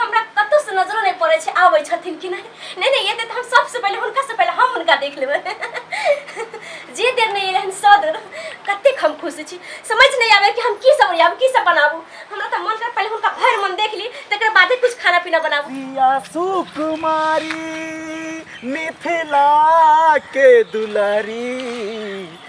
हमरा कतौ से नजरो नहीं पड़े छै आबै छथिन कि नहीं नहीं नहीं एते हम सबसे पहले हुनका से पहले हम हुनका देख लेबै जे देर नहीं एलै हन सौ देर कतेक हम खुश छी समझ नहीं आबे कि हम की सब ओरियाब की सब बनाबू हमरा तऽ मन कर पहले हुनका भर मन देख ली तकर बादे कुछ खाना पीना बनाबू पिया सुकुमारी मिथिला के दुलारी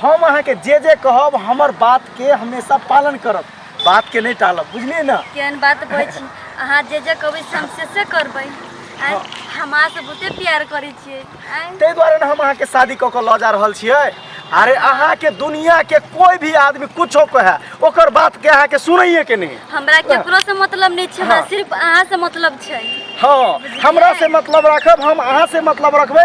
हम अहाँके जे जे कहब हमर बातके हमेशा पालन करब बातके नहि टालब बुझलियै ने केहन बात कहै छी अहाँ जे जे कहबै से हम से से करबै आँय, हमरा से बहुते प्यार करै छियै आँय, ताहि दुआरे ने हम अहाँके शादी कऽ कऽ लऽ जा रहल छियै अरे अहाँके दुनियाके कोइ भी आदमी कुछो कहे ओकर बातके अहाँके सुनैए के नहि हमरा केकरो से मतलब नहि छै हमरा हाँ। सिर्फ अहाँ से मतलब छै हँ हमरा से मतलब रखब हम अहाँ से मतलब रखबै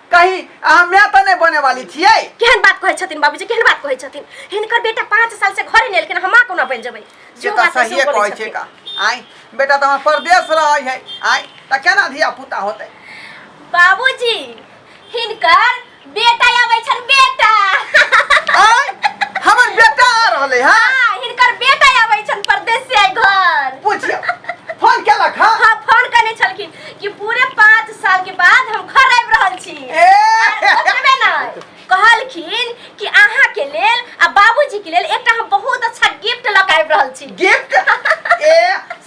कही अहाँ मैं तो नहीं बने वाली थी केहन बात कहै छथिन बाबूजी केहन बात कहै छथिन हिनकर बेटा पाँच साल से घरे नेलखिन हम माँ कोना बनि जेबै से जो तो बात है, सही से वो कहै बोलै छै छथिन। का आई बेटा तो हमार परदेश रहे है आई तो केना धिया पुता होते बाबूजी हिनकर बेटा आबै छन बेटा आई हमर बेटा आ रहले है हाँ, हिनकर बेटा आबै छन परदेश से आइ घर पूछियो फोन केलक हाँ हाँ फोन कने छलखिन कि पूरे पाँच साल के बाद हम घर आबि रहल छी ओतबे नहि कहलखिन कि अहाँ के लेल आ बाबूजी के लेल एकटा हम बहुत अच्छा गिफ्ट लऽ कऽ आबि रहल छी गिफ्ट ए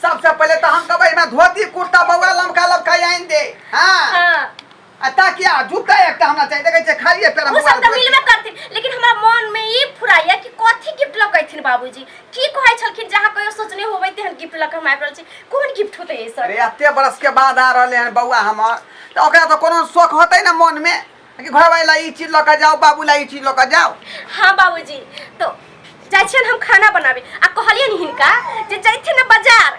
सबसे पहले तो हम कहबै हमरा धोती कुर्ता बउआ लमका लमका आनि दे हाँ हाँ आ ताकि आ जूता एकटा हमरा चाहिए देखे छै खाली एकटा ओ सब तऽ मिलबे करथिन लेकिन हमरा मन में ई फुराइया कि कथी गिफ्ट लकैथिन बाबूजी की कहै छलखिन जहाँ कहियो सोचने होबै तेहन गिफ्ट लक हम आबि रहल छी कोन गिफ्ट होतै एहि सब अरे एते बरस के बाद आ रहले हन बौआ हमर तऽ ओकरा तऽ कोनो शौक होतै ने मन में कि घर वाला ई चीज लऽ कऽ जाओ बाबू ला ई चीज लऽ कऽ जाओ हाँ बाबूजी तो जाइ छियनि हम खाना बनाबे आ कहलियनि हिनका जे जैथिन ने बाजार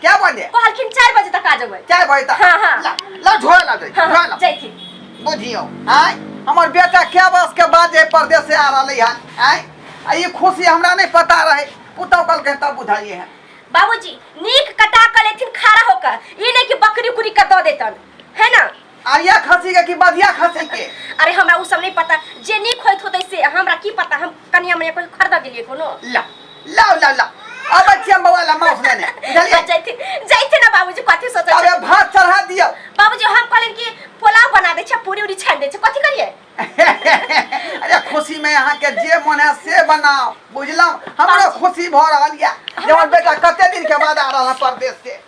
क्या बजे कहलखिन चार बजे तक आ जेबै चार बजे तक हाँ, हाँ। ला ला झोरा ला दे हाँ, झोरा ला जैथिन बुझियो आय हमर बेटा क्या बस के बाद जे परदेश से आ रहले हन आय आ ई खुशी हमरा नहीं पता रहे पुतौ कल के तब बुझाइए है बाबूजी नीक कटा कर लेथिन खड़ा होकर ई नहीं कि बकरी उकरी का दऽ देतन है ना आरिया खसी के कि बधिया खसी के अरे हमरा उ सब नहीं पता जे निक होइत होते से हमरा की पता हम कनिया मने कोई खरीदा दिलिए कोनो ला ला ला ला अब बच्चिया बवा ला माउस लेने बुझलिए जैते जैते ना बाबूजी कथि सोचे अबे भात चढ़ा दियो बाबूजी हम कहलिन कि पुलाव बना दे छ पूरी उरी छान दे छ कथि करिए अरे खुशी में यहाँ के जे मन है से बनाओ बुझलम हमरो खुशी भऽ रहल या जवन बेटा कते दिन के बाद आ रहल है परदेश से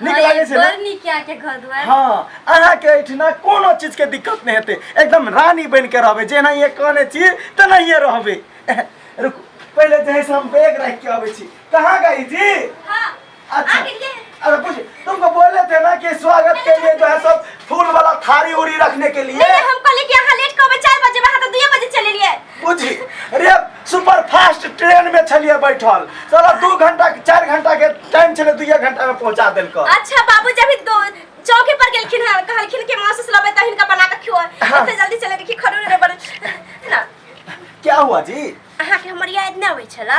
नीक हाँ, लागै छै ने बड़ नीक यहाँ के घर दुआर हाँ अहाँके एहिठिना कोनो चीजके दिक्कत नहि हेतै एकदम रानी बनि कऽ रहबै जेनाहिए कहने छी तेनाहिए रहबै रुकू पहिले जे है से हम बैग राखि के अबै छी कहाँ गई जी हाँ, अच्छा आगे ये। अरे पूछ तुमको बोले थे ना कि स्वागत के लिए जो है सब फूल वाला थारी उरी रखने के लिए नहीं, हम कहले कि यहाँ लेट कहबे चार बजे वहाँ तो दुए बजे चले लिए बुझी रे सुपर फास्ट ट्रेन में छलिए बैठल साला दू घंटा चार घंटा के टाइम छले दू घंटा में पहुंचा देल को अच्छा बाबू जब दो चौके पर गेलखिन है कहलखिन के मां से लबे त हिनका बना के खियो हाँ। इतने जल्दी चले देखी खड़ो रे बड़े ना क्या हुआ जी अहा के हमर याद ना होई छला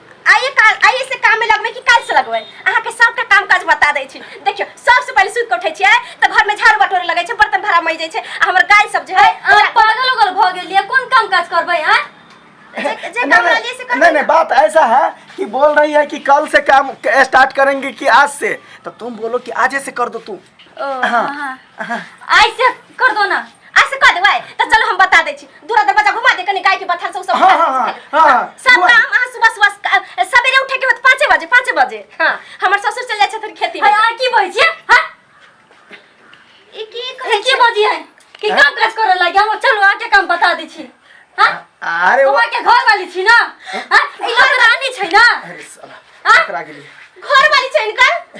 आइए काल आइए से काम में लगबे कि काल से लगबे अहाँ के सबटा काम काज बता दै छी देखियो सबसे पहले सुत के उठै छियै त घर में झाड़ू बटोरे लगै छै बर्तन भरा मज जाइ छै आ हमर गाय सब जे है अहाँ पागल उगल भऽ गेलियै कोन काम काज करबै अहाँ जे जे काम नहीं, लिए से कर नहीं नहीं बात ऐसा है कि बोल रही है कि कल से काम स्टार्ट करेंगे कि आज से तो तुम बोलो कि आज से कर दो तुम ओ हाँ। हाँ, हाँ। ऐसे कर दो ना ऐसे कर देबै तऽ चलो हम बता दै छी दूरा दरवाजा घुमा दे कनि गाय के बथान से उ सब हाँ, हाँ, हाँ, हाँ, सब घुमा दे। काम अहाँ सुबह सुबह क- सबेरे उठे के होत पाँचे बजे पाँचे बजे हाँ हमर ससुर चल जाइ छथिन खेती में आ की बजै छियै हाँ ई की ए, कहै की बजै है कि हाँ? काम काज करे लागे हम चलू अहाँ के काम बता दै छी हाँ अरे वो- बौआ के घर वाली छी ना हाँ ई लोग रानी छै ना अरे साला हाँ? पकड़ा गेली घर वाली छै इनकर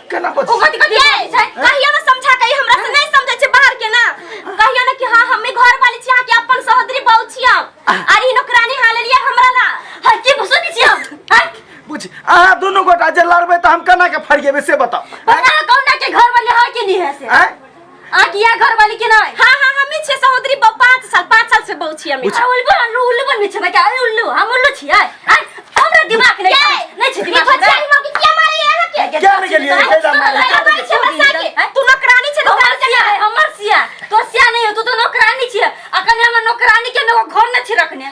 केना ओ बच कथी कथी कहै छै कहिया ने समझा के ई हमरा से नहीं समझै छै बाहर के ना कहिया ने कि हां हम ई घर वाली छी अहाँ के अपन सहोदरी बहू छी हम अरे ई नौकरानी हाल लिए हमरा ला हर की भसुन छी हम हर बुझ अहाँ दुनू गोटा जे लड़बै तऽ हम केना के फरिएबै से बताउ पता है कौन के घर वाली हां के लिए है से आँय? आ किया घर वाली के नहीं हां हां हमी छे सहोदरी ब 5 साल 5 साल से बहु छी हमी अच्छा उल्लू अनु उल्लू बन छै क्या अरे उल्लू हम उल्लू छी आय आय हमरा दिमाग नहीं छै नहीं छै दिमाग हमरा भचाई मौकी किया मारे यहाँ के क्या में गेलिए कैला मारे हमारे छे बसा के तू नौकरानी छे तो घर चले हमर सिया तो सिया नहीं हो तू तो नौकरानी छी अकने हमर नौकरानी के नो घर न छी रखने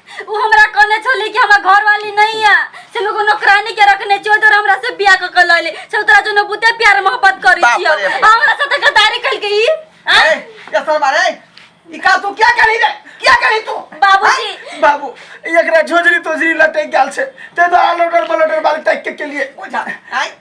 वो हमरा कहने छली कि हमरा घर वाली नहीं है से हम एगो नौकरानी के रखने छियो तो हमरा से बियाह क के लले से उतरा जो न बुते प्यार मोहब्बत करी बाप छियो रे बाप। हमरा साथे गद्दारी कइल के ई हाँ? ए, ये सर मारे ई का तू क्या करी रे क्या करी तू बाबूजी। हाँ? बाबू एकरा झोजरी तोजरी लटे गाल से ते तो आलोटर पलोटर बाल टैक के लिए बुझा आई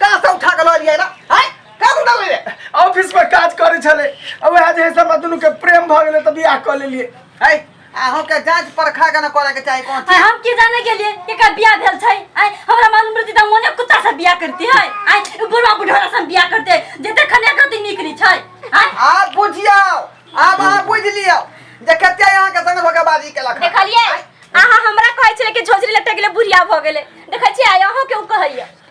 कहाँ से उठा के लऽ लिया ना हाय कहाँ से उठा ले ऑफिस में काज करे छले और वह जे सब मदनू के प्रेम भ गेले तभी आ कर लेलिए हाय अहों के जांच परखा के ना करे के चाही कौन आय हम की जाने के लिए कि का बियाह भेल छै आय हमरा मालूम रहती त मोने कुत्ता से बियाह करती है आय उ बुढ़वा बुढ़वा से बियाह करते जे देखने कति नीक नी छै आय आप बुझियो आप अहाँ बुझ लियो जे कते यहाँ के संग धोखेबाजी केलक हन। देखलिए आय, अहाँ हमरा कहै छले कि झोझरी लटक गेले बुढ़िया भ गेले देखै छी आय अहाँ के उ कहैया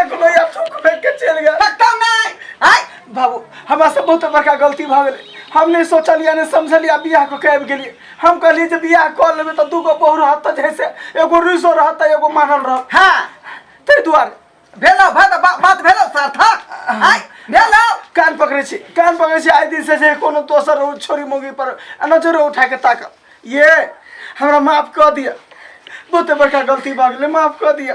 एक लोया थूक फेंक के चल गया पक्का नहीं आय बाबू हमरा से बहुत बड़का गलती भऽ गेलै हम नहि सोचलियै नहि समझलियै बियाह कऽ के आबि गेलियै हम कहलियै जे बियाह कऽ लेबै तऽ दूगो बहू रहत तऽ जैसे एगो रुसो रहत तऽ एगो मानल रहत हाँ ताहि दुआरे भेलो भा तऽ बा- बात भेलो सार्थक आय भेलो कान पकड़ै छी कान पकड़ै छी आइ दिनसँ जे कोनो दोसर ओ छोरी मौगी पर नजरो उठा के ताकब ये हमरा माफ कऽ दिअ बहुते बड़का गलती भऽ गेलै माफ कऽ दिअ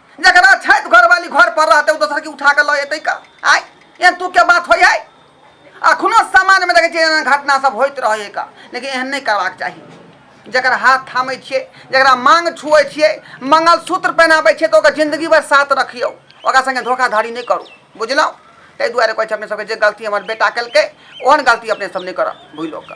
जकरा छै घरवाली घर पर रहते दोसर के उठा के लऽ का आय एहन तू के बात होय है अखनो समाज में देखे छियै एहन घटना सब होइत रहे का लेकिन एहन नहीं करबाक चाहिए जरा हाथ थामे छे जरा मांग छुए छे मंगलसूत्र पहनाबे छे तो जिंदगी भर साथ रखियो ओकरा संगे धोखाधड़ी नहीं करू बुझलौ ताहि दुआरे कहै छै अपने सबके जे गलती हमर बेटा केलकै ओहन गलती अपने सब नहीं करब भूलो का